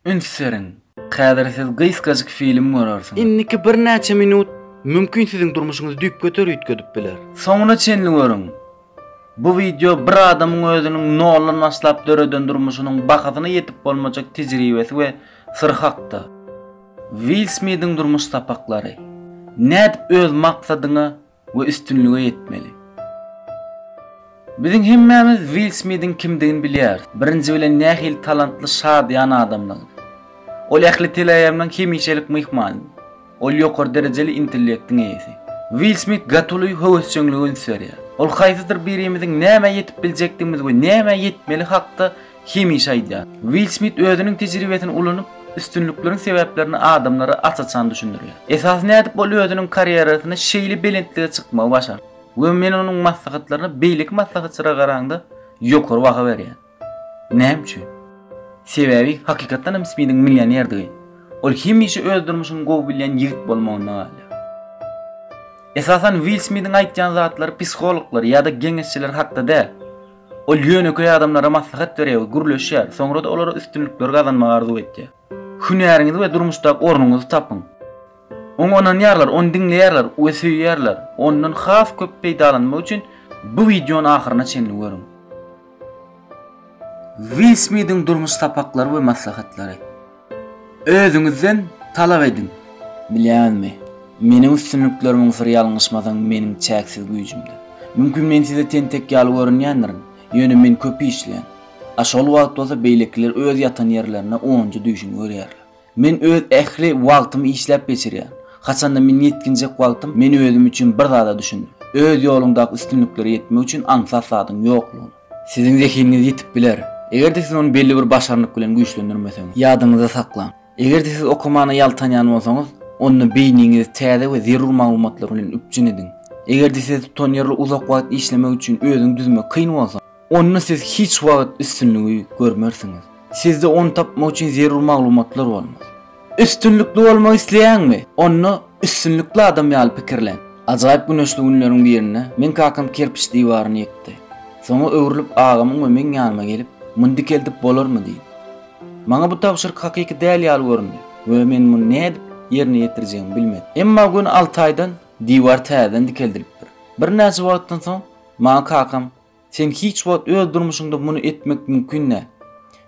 üns beriň. Häzir siz gysgajyk film görersiňiz. Indiki birnäçe minut mümkin siziň durmuşyňyzy düýpgöter üýtgedip biler. Soňuna çenli görüň. Bu wideo bir adamyň özüniň noldan başlap döreden durmuşynyň bahasyna ýetip bolmajak tejribesi we syry hakda. Will Smidiň durmuş sapaklary. Nädip öz maksadyňa we üstünlige ýetmeli. Biziň hemmämiz Will Smidiň kimdigini bilýäris, birinji bilen nähili talantly şadyýan adamdygyny. Ol ähli teleaýamlaryň hemişelik myhmanydy. Ol ýokary derejeli intellektiň eýesi. Will Smit gatuly höwesjeňlige üns berýär. Ol haýsydyr birimiziň nämä ýetip biljekdigimiz we nämä ýetmeli hakda Hemişe aýdýar. Will Smit özüniň tejribesini ulanyp, üstünlikleriň sebäplerini adamlara aç-açan düşündirýär. Esasy nädip ol özüniň karýerasyny şeýle belentlige çykmagy başardy we men onuň maslahatlaryna beýleki maslahatçylara garaňda ýokary baha berýän. Näme üçin? Sebäbi hakykatdan hem Smitiň millionerdigi, ol hemişe öz durmuşyny gowy bilýän ýigit bolmagynda galýar. Esasan Will Smitiň aýtýan zatlary psihologlar ýa-da geňeşçiler hakda däl. Ol ýönekeý adamlara maslahat berýär we gürleşýär, soňra-da olara üstünlikleri gazanmagy arzuw etýär. Hünäriňizi we durmuşdaky ornuňyzy tapyň. Oňa ynanýarlar, ony diňleýärler we söýýärler. Ondan has köp peýdalanmak üçin bu wideony ahyryna çenli görüň. Will Smidiň durmuş sapaklary we maslahatlary. Özüňizden talap ediň. Bilýäňizmi, meniň üstünliklerimiň syry ýalňyşmasaň meniň çäksiz güýjümde. Mümkin men size tentek ýaly görünýändirin, ýöne men köp işleýän. A şol wagt bolsa beýlekiler öz ýatan ýerlerinde onunjy düýşüni görýärler. Men öz ähli wagtymy işläp geçirýän. Haçanda men ýetginjek wagtym men özüm üçin bir zada düşündim. Öz ýoluňdaky üstünliklere ýetmek üçin aňsat zadyň ýoklugyna. Siziň zehiniňiz ýitip biler, eger-de siz ony belli bir başarnyk bilen güýçlendirmeseňiz. Ýadyňyzda saklaň, eger-de siz okamana ýaltanýan bolsaňyz, onda beýniňizi täze we zerur maglumatlar bilen üpjün ediň. Eger-de size tutanýerli uzak wagt işlemek üçin özüňi düzmek kyn bolsa, onda siz hiç wagt üstünligi görmersiňiz. Sizde ony tapmak üçin zerur maglumatlar bolmaz. Üstünlikli bolmak isleýäňmi? Onda üstünlikli adam ýaly pikirlen. Ajaýyp güneşli günleriň birinde meň kakam kerpiç diwaryny ýykdy. Soňa öwrülip agamyň we meň ýanyma gelip, Muny dikeldip bolarmy? diýdi. Maňa bu tabşyryk hakyky däl ýaly göründi we men muny nädip ýerine ýetirjegimi bilmedim. Emma göni alty aýdan diwar täzeden dikeldilipdir. Birnäçe wagtdan soň maňa kakam Sen hiç wagt öz durmuşyňda muny etmek mümkin däl.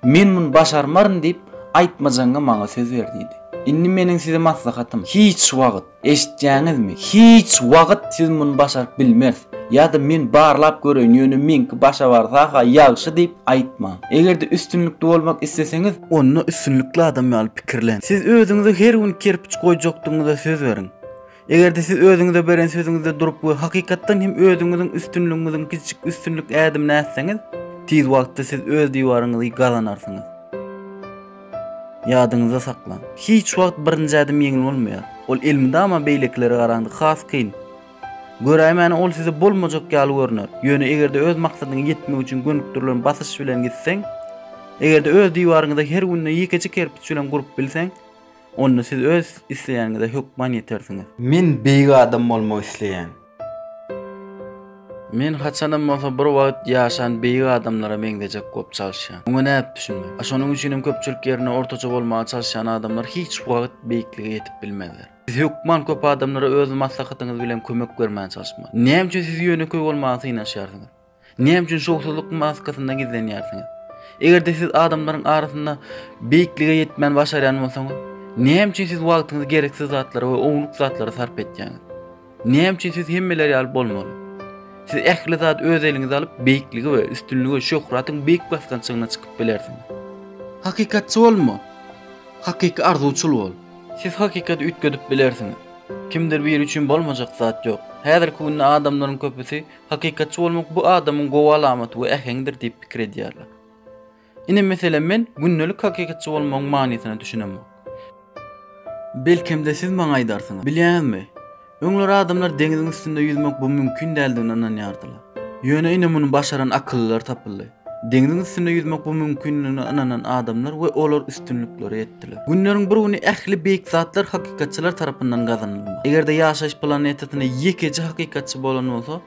Men muny başarmaryn diýip, aýtmajaňa maňa söz ber diýdi. Indi meniň size maslahatym, hiç wagt, eşitýäňizmi, hiç wagt siz muny başaryp bilmeris ýa-da men barlap göreýin, ýöne meňki başa barsa-ha ýagşy diýip aýtmaň. Eger-de üstünlikli bolmak isleseňiz, onda üstünlikli adam ýaly pikirlen, siz özüňize her gün kerpiç goýjakdygyňyza söz beriň. Eger-de siz özüňize beren sözüňizde durup we hakykatdan hem özüňiziň üstünligiňiziň kiçijik üstünlik ädimini ätseňiz, tiz wagtda siz öz diwaryňyzy gazanarsyňyz. Ýadyňyzda saklaň, hiç wagt birinji ädim ýeňil bolmaýar. Ol elmydama beýlekilere garanda has kyn. Göräýmäne ol size bolmajak ýaly görner. Ýöne eger-de öz maksadyňa ýetmek üçin gönükdirilen basyş bilen gitseň, eger-de öz diwaryňyzy her günde ýekeje kerpiç bilen gurup bilseň, Onda siz öz isleýäniňize hökman ýetersiňiz. Men beýik adam bolmak isleýän. Men haçanam bolsa bir wagt ýaşan beýik adamlara meňzejek bolup çalyşýan. Muňa nädip düşünmek? A şonuň üçinem köpçülik ýerinde ortaça bolmaga çalyşýan adamlar hiç wagt beýiklige ýetip bilmezler. Siz hökman köp adamlara öz maslahatyňyz bilen kömek bermäge çalyşmaly. Näme üçin siz ýönekeý bolmaga synanyşýarsyňyz? Näme üçin şowsuzlyk maskasynda gizlenýärsiňiz? Eger-de siz adamlaryň arasynda beýiklige ýetmän başarýan bolsaňyz, näme üçin siz wagtyňyzy gereksiz zatlara we ownuk zatlara sarp etýäňiz? Näme üçin siz hemmeler ýaly bolmaly? Siz ähli zady öz eliňize alyp, beýikligi we üstünligi, şöhratyň beýik basgançagyna çykyp bilersiňiz. Hakykatçy bolma. Hakyky arzuwçyl bol. Siz hakykaty üýtgedip bilersiňiz. Kimdir biri üçin bolmajak zat ýok. Häzirki günde adamlaryň köpüsi Hakykatçy bolmak bu adamyň gowy alamaty we äheňidir diýip pikir edýärler. Ine meselem men gündelik hakykatçy bolmagyň manysyna düşünemok. Belkem-de siz maňa aýdarsyňyz, bilýäňizmi, öňler adamlar deňziň üstünde ýüzmek bu mümkin däldigine ynanýardylar. Ýöne ine muny başaran akyllylar tapyldy. Deňziň üstünde ýüzmek bu mümkindigine ynanan adamlar we olar üstünlikleri etdiler. Günleriň bir güni ähli beýik zatlar hakykatçylar tarapyndan gazanylmaly. Eger-de ýaşaýyş planetasynda ýekeje hakykatçy bolan bolsa,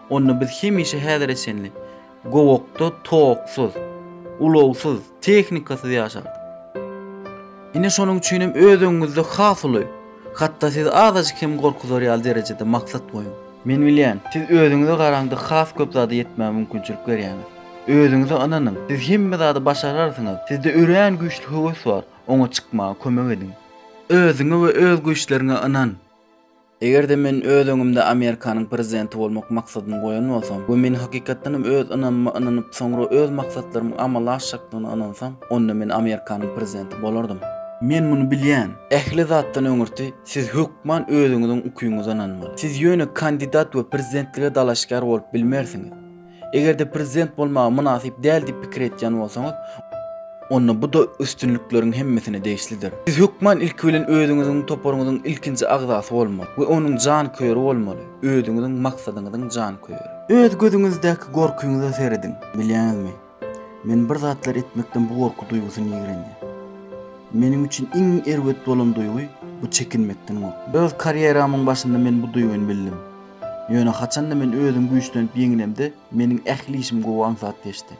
onda biz hemişe häzire çenli gowakda toksyz, ulagsyz, tehnikasyz ýaşardyk. Ine şonuň üçin hem öz öňüňizde has uly, hatda sizi azajyk hem gorkuzar ýaly derejede maksat goýuň. Men bilýän, siz özüňize garaňda has köp zada ýetmäge mümkinçilik berýäňiz. Özüňize ynanyň, siz hemme zady başararsyňyz, sizde örän güýçli höwes bar, oňa çykmaga kömek ediň. Özüňe we öz güýçleriňe ynan! Eger-de men öz öňümde Amerikanyň prezidenti bolmak maksadyny goýan bolsam we men hakykatdanam öz ynamyma ynanyp, soňra öz maksatlarymyň amala aşjakdygyna ynansam, onda men Amerikanyň prezidenti bolardym. Men muny bilýän. Ähli zatdan öňürti, Siz hökman özüňiziň ukyňyza ynanmaly. Siz ýöne kandidat we prezidentlige dalaşgär bolup bilmersiňiz. Eger-de prezident bolmagy mynasyp däl diýip pikir etýän bolsaňyz, onda bu-da üstünlikleriň hemmesine degişlidir. Siz hökman ilki bilen özüňiziň toparyňyzyň ilkinji agzasy bolmaly we onuň janköýeri bolmaly, özüňiziň maksadyňyzyň janköýeri. Öz gözüňizdäki gorkyňyza serediň, bilýäňizmi? Men bir zatlar etmekden bu gorky duýgusyny ýigrenýän. Meniň üçin iň erbet bolan duýgy bu çekinmekden gorkmak. Öz karýeramyň başynda men bu duýgyny bildim. Ýöne haçanda men özüm güýçlenip ýeňinemde, meniň ähli işim gowy aňsat geçdi.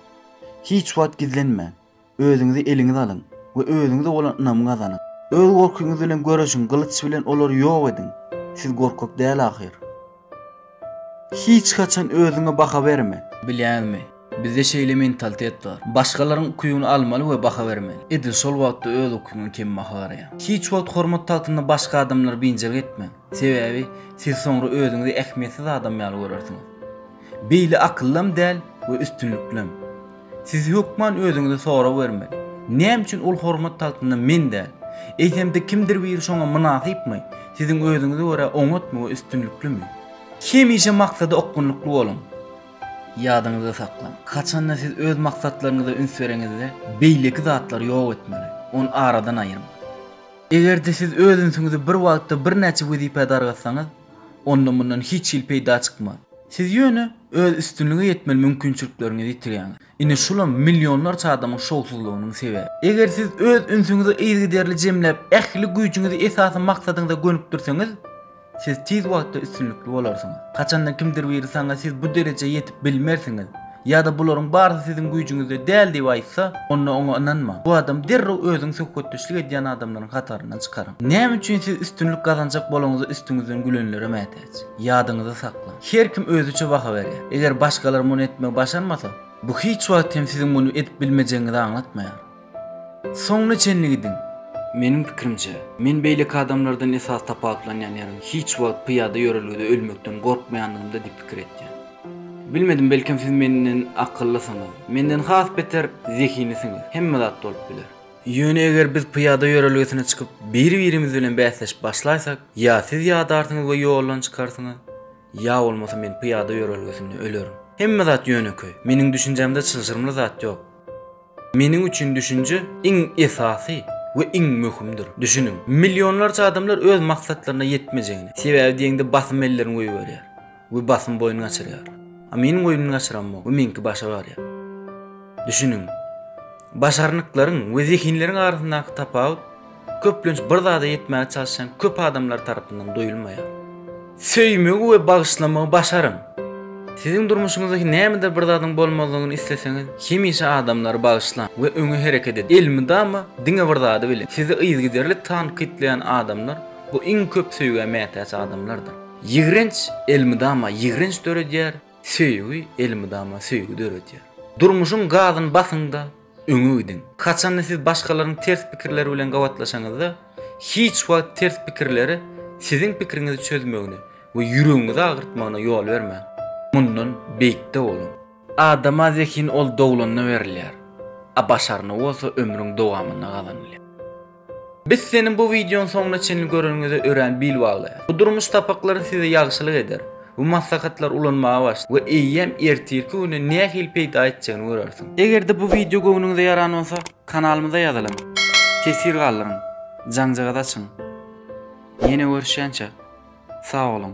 Hiç wagt gizlenmäň, özüňizi eliňize alyň we özüňize bolan ynamy gazanyň. Öz gorkyňyz bilen göreşiň, gylyç bilen olary ýok ediň. Siz gorkak däl ahyr. Hiç haçan özüňe baha berme. Bilýäňizmi, bizde şeýle mentalitet bar. Başgalaryň ukybyny almaly we baha bermeli. Edil şol wagtda öz ukybyňa kembaha garaýaň. Hiç wagt hormat tagtynda başga adamlary biynjalyk etmäň. Sebäbi, siz soňra özüňizi ähmiýetsiz adam ýaly görersiňiz. Beýle akyllym däl we üstünliklem. Siz hökman özüňize sorag bermeli, Näme üçin ol hormat tagtynda men däl? Eýsem-de kimdir biri şoňa mynasypmy? Siziň özüňize görä oňatmy we üstünliklimi? Hemişe maksada okgunlykly boluň. Ýadyňyzda saklaň, haçanda siz öz maksatlaryňyza üns bereňizde, beýleki zatlary ýok etmeli, ony aradan aýyrmaly. Eger-de siz öz ünsüňizi bir wagtda birnäçe wezipä dargatsaňyz, onda mundan hiç hili peýda çykmaz. Siz ýöne öz üstünlige ýetmeli mümkinçilikleriňizi ýitirýäňiz. Ine şulam millionlarça adamyň şowsuzlygynyň sebebi. Eger siz öz ünsüňizi yzygiderli jemläp, ähli güýjüňizi esasy maksadyňyza gönükdirseňiz, siz tiz wagtda üstünlikli bolarsyňyz. Haçanda kimdir biri saňa siz bu derejä ýetip bilmersiňiz ýa-da bularyň barysy siziň güýjüňizde däl diýip aýtsa, onda oňa ynanmaň. Bu adamy derrew özüň söhbetdeşlik edýän adamlaryň hataryndan çykaryň. Näme üçin siz üstünlik gazanjak bolaňyza üstüňizden gülenlere mätäç? Ýadyňyzda saklaň. Her kim özüçe baha berýär. Eger başgalar muny etmegi başarmasa, bu hiç wagt hem siziň muny edip bilmejegiňizi aňlatmaýar. Soňuna çenli gidiň! Meniň pikirimçe, men beýleki adamlardan esasy tapawutlanýan ýerim, hiç wagt pyýada ýörelgede ölmekden gorkmaýandygymda diýip pikir etýän. Bilmedim, belkem siz menden akyllysyňyz. Menden has beter zehinlisiňiz. Hemme zat bolup biler. Ýöne eger biz pyýada ýörelgesine çykyp, biri-birimiz bilen bäsleşip başlaýsak, ýa siz ýadarsyňyz we ýoldan çykarsyňyz, ýa bolmasa men pyýada ýörelgesinde ölerin. Hemme zat ýönekeý. Meniň düşünjämde çylşyrymly zat ýok. Meniň üçin düşünje iň esasy we iň möhümdir. Düşüniň, millionlarça adamlar öz maksatlaryna ýetmejegini, sebäbi diýeňde basym ellerini goýberýär. we basym boýun gaçyrýar. A meniň boýun gaçyramok we meňki başa barýar. Düşüniň, başarnyklaryň we zehinleriň arasyndaky tapawut köplenç bir zada ýetmäge çalyşýan köp adamlar tarapyndan duýulmaýar. Söýmegi we bagyşlamagy başaryň. Siziň durmuşyňyzda nämedir bir zadyň bolmazlygyny isleseňiz, hemişe adamlary bagyşlaň we öňe hereket ediň. Elmydama diňe bir zady biliň, sizi yzygiderli tankytlaýan adamlar bu iň köp söýgä mätäç adamlardyr. Ýigrenç elmydama ýigrenç döredýär, söýgi elmydama söýgi döredýär. Durmuşyň gazyny basyň-da, öňe gidiň. Haçanda siz başgalaryň ters pikirleri bilen gabatlaşaňyzda, hiç wagt ters pikirleri siziň pikiriňizi çözmegine we ýüregiňizi agyrtmagyna ýol bermäň. Mundan beýikde boluň. Adama zehin ol doglanda berilýär, a başarny bolsa ömrüň dowamynda gazanylýar. Biz seniň bu wideony soňuna çenli göreniňize örän bil baglaýas. Bu durmuş sapaklary size ýagşylyk eder. Bu maslahatlary ulanmaga başla we eýýäm ertirki güne nähili peýda etjegini görersiň. Eger-de bu wideo göwnüňize ýaran bolsa, kanalymyza ýazylyň, teswir galdyryň, jaňjagaz açyň. Ýene görüşýänçä, sag boluň!